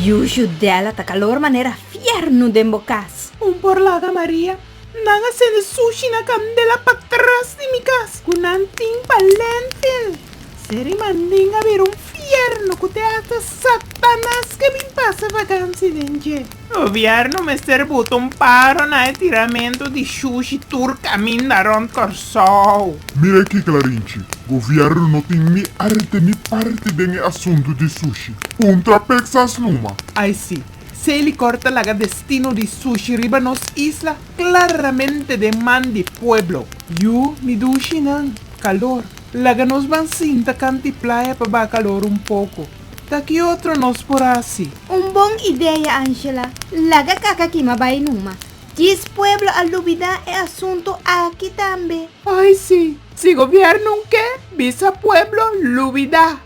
Yuyu del a ta calor manera fierno den bo cas. Un por laga Maria, nan a sende sushi na candela pa tras di mi cas cu nan tin pa lentil. Seri mandinga bira un fierno cu te hasta Satanas ke bin pasa vakansi den dje. Gobierno mester buta un paro na e tiramentu di shushi tur caminda rond Corsou. Mira aki Clarinchi, Gobierno no tin ni arte ni parti den e asuntu di sushi. Un trapek sas numa. Ai si, si e licor ta laga destino di sushi riba nos isla claramente den man di pueblo. Yu, mi dushi nan, calor. Laga nos ban sinta canti playa pa baca calor un poco. Ta ki otro nos por hasi? Un bon idea Angela, laga kaka kima bai numa. Djis pueblo a lubida e asunto aki tambe. Ay si, si gobierno ke bisa pueblo lubida.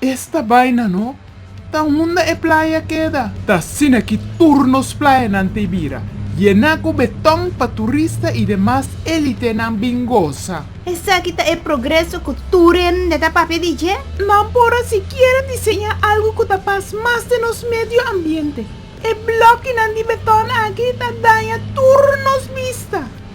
Esta baina no. Ta unda e playa keda? Ta asina ki tur nos playanan ta e bira, yená ku beton pa turista i demas élitenan bin gosa. Esaki ta e progreso ku tur hende ta papia di dje? Nan por a sikiera diseñá algu ku ta pas mas den nos medio ambiente. E blòkinan di beton aki ta daña tur nos bista.